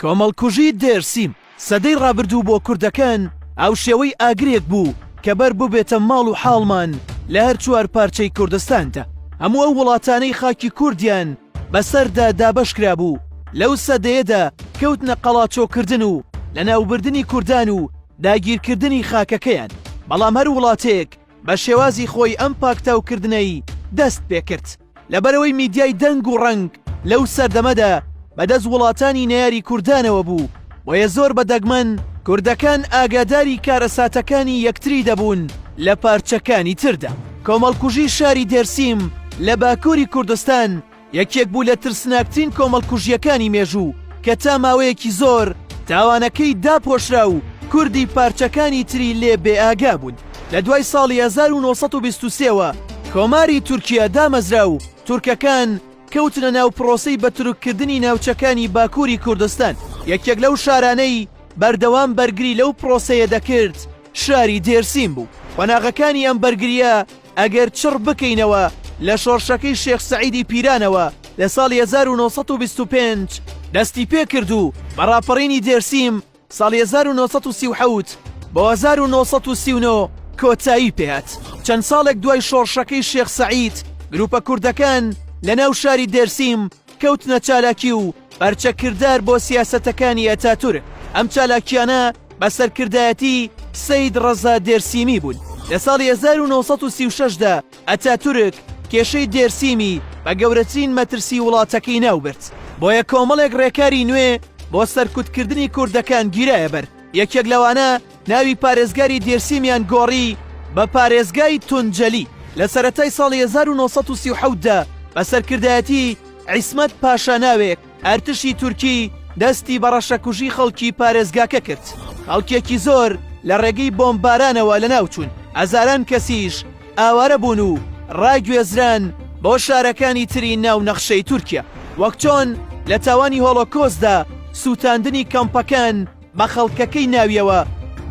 کۆمەڵکوژی دێرسیم سەدەی ڕابردوو بۆ کوردەکان ئەو شێوەی ئاگرێک بوو کە بەر ببێتە ماڵ و حاڵمان لە هەر چوار پارچەی کوردستاندا هەموو ئەو وڵاتانەی خاکی کوردیان بەسەردا دابەش کرابوو لەو سەدەیەدا کەوتنە قەڵاچۆکردن و لەناوبردنی کوردان و داگیرکردنی خاکەکەیان بەڵام هەر وڵاتێک بە شێوازی خۆی ئەم پاکتاوکردنەی دەست پێ کرد لەبەرەوەی میدیای دەنگ و ڕەنگ لەو سەردەمەدا بەدەست وڵاتانی نەیاری کوردانەوە بوو بۆیە زۆر بە دەگمەن کوردەکان ئاگاداری کارەساتەکانی یەکتری دەبوون لە پارچەکانی تردا. کۆمەڵکوژی شاری دێرسیم لە باکووری کوردستان، یەکێک بوو لە ترسناکترین کۆمەڵکوژییەکانی مێژوو کە تا ماوەیەکی زۆر تاوانەکەی داپۆشرا و کوردی پارچەکانی تری لێ بێ ئاگا بوون. لە دوای ساڵی هەزار و نۆ سەد و بیست و سێ وە کۆماری تورکیە دامەزرا و تورکەکان کەوتنە ناو پرۆسەی بە تورک کردنی ناوچەکانی باکووری کوردستان. یەکێک لەو شارانەی بەردەوام بەرگری لەو پرۆسەیە دەکرد شاری دێرسیم بوو. قۆناغەکانی ئەم بەرگرییە ئەگەر چڕ بکەینەوە لە شۆڕشەکەی شێخ سەعیدی پیرانەوە لە ساڵی هەزار و نۆ سەد و بیست و پێنج دەستی پێ کرد و بە ڕاپەڕینی دێرسیم ساڵی هەزار و نۆ سەد و سی و حەوت بۆ هەزار و نۆ سەد و سی و نۆ کۆتایی پێ هات. چەند ساڵێک دوای شۆڕشەکەی شێخ سەعید گرووپە کوردەکان لەناو شاری دێرسیم، کەوتنە چالاکی و پەرچە کردار بۆ سیاسەتەکانی ئەتاتورک ئەم چالاکیانە بە سەرکردایەتی سەید ڕەزا دێرسیمی بوون لە ساڵی 1936دا ئەتاتورک کێشەی دێرسیمی بە گەورەترین مەترسی وڵاتەکەی ناوبرد بۆیە کۆمەڵێک ڕێکاری نوێ بۆ سەرکوتکردنی کوردەکان گیرایە بەر یەکێک لەوانە ناوی پارێزگاری دێرسیمیان گۆڕی بە پارێزگای تونجەلی لە سەرەتای ساڵی 1930 دا بە سەرکردایەتی عیسمەت پاشا ناوێک ئەرتشی تورکی دەستی بە ڕەشەکوژی خەڵکی پارێزگاکە کرد خەڵکێکی زۆر لە ڕێگەی بۆمبارانەوە لە ناوچوون هەزاران کەسیش ئاوارە بوون و ڕاگوێزران بۆ شارەکانی تری ناو نەخشەی تورکیا وەک چۆن لە تاوانی هۆڵۆکۆسدا سووتاندنی کەمپەکان بە خەڵکەکەی ناویەوە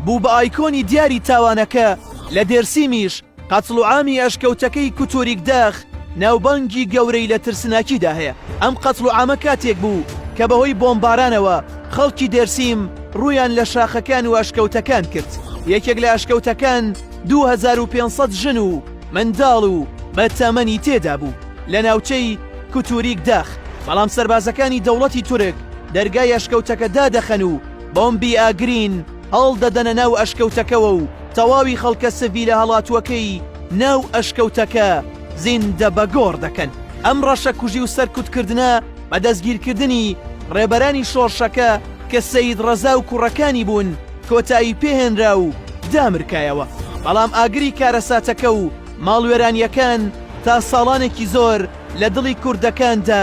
بوو بە ئایکۆنی دیاری تاوانەکە، لە دێرسیمیش قەتڵ و عامی ئەشکەوتەکەی کوتوریک داخ ناوبانگی گەورەی لە ترسناکیدا هەیە، ئەم قەتڵ و عامە کاتێک بوو کە بەهۆی بۆمبارانەوە خەڵکی دێرسیم ڕوویان لە شاخەکان و ئەشکەوتەکان کرد، یەکێک لە ئەشکەوتەکان دوو هەزار و پێنج سەد ژن و منداڵ و بە تەمەنی تێدا بوو لە ناوچەی کوتوریک داخ، بەڵام سەربازەکانی دەوڵەتی تورک دەرگای ئەشکەوتەکە دادەخەن و بۆمبی ئاگرین هەڵدەدەنە ناو ئەشکەوتەکەوە و تەواوی خەڵکە سڤیلە هەڵاتووەکەی ناو ئەشکەوتەکە زیندە بە گۆڕ دەکەن. ئەم ڕەشەکوژی و سەرکوتکردنە بە دەستگیرکردنی ڕێبەرانی شۆڕشەکە کە سەید ڕەزا و کوڕەکانی بوون، کۆتایی پێهێنرا و دامرکایەوە، بەڵام ئاگری کارەساتەکە و ماڵوێرانییەکان تا ساڵانێکی زۆر لە دڵی کوردەکاندا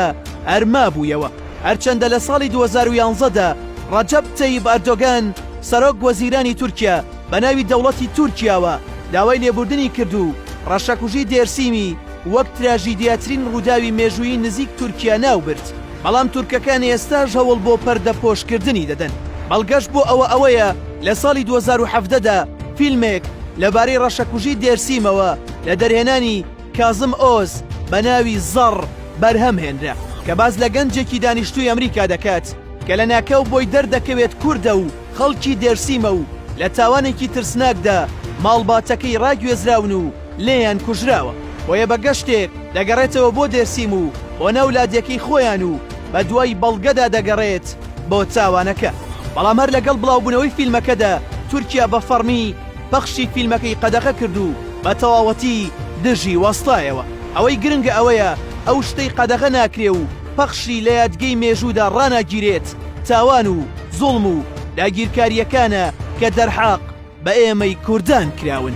هەر مابوویەوە، هەرچەندە لە ساڵی دوو هەزار و یازدە دا ڕەجەب تەیب ئەردۆگان سەرۆک وەزیرانی تورکیا بە ناوی دەوڵەتی تورکیاوە داوای لێبوردنی کرد و ڕەشەکوژی دێرسیمی وەک تراژیدیاترین ڕووداوی مێژوویی نزیک تورکیا ناوبرد، بەڵام تورکەکان ئێستاش هەوڵ بۆ پەردەپۆشکردنی دەدەن. بەڵگەش بۆ ئەوە ئەوەیە لە ساڵی دوو هەزار و حەڤدە دا فیلمێک لەبارەی ڕەشەکوژی دێرسیمەوە لە دەرهێنانی کازم ئۆز بە ناوی زەڕ بەرهەم هێنرا کە باس لە گەنجێکی دانیشتووی ئەمریکا دەکات کە لەناکاو بۆی دەردەکەوێت کوردە و خەڵکی دێرسیمە و لە تاوانێکی ترسناکدا ماڵباتەکەی ڕاگوێزراون و لێیان کوژراوە، بۆیە بە گەشتێک دەگەڕێتەوە بۆ دێرسیم و بۆ ناو لادێکەی خۆیان و بە دوای بەڵگەدا دەگەڕێت بۆ تاوانەکە، بەڵام هەر لەگەڵ بڵاوبوونەوەی فیلمەکەدا تورکیا بە فەڕمی پەخشی فیلمەکەی قەدەغە کرد و بە تەواوەتی دژی وەستایەوە. ئەوەی گرنگە ئەوەیە ئەو شتەی قەدەغە ناکرێ و پەخشی لە یادگەی مێژوودا ڕاناگیرێت تاوان و زوڵم و داگیرکارییەکانە کە دەرحەق بە ئێمەی کوردان کراون.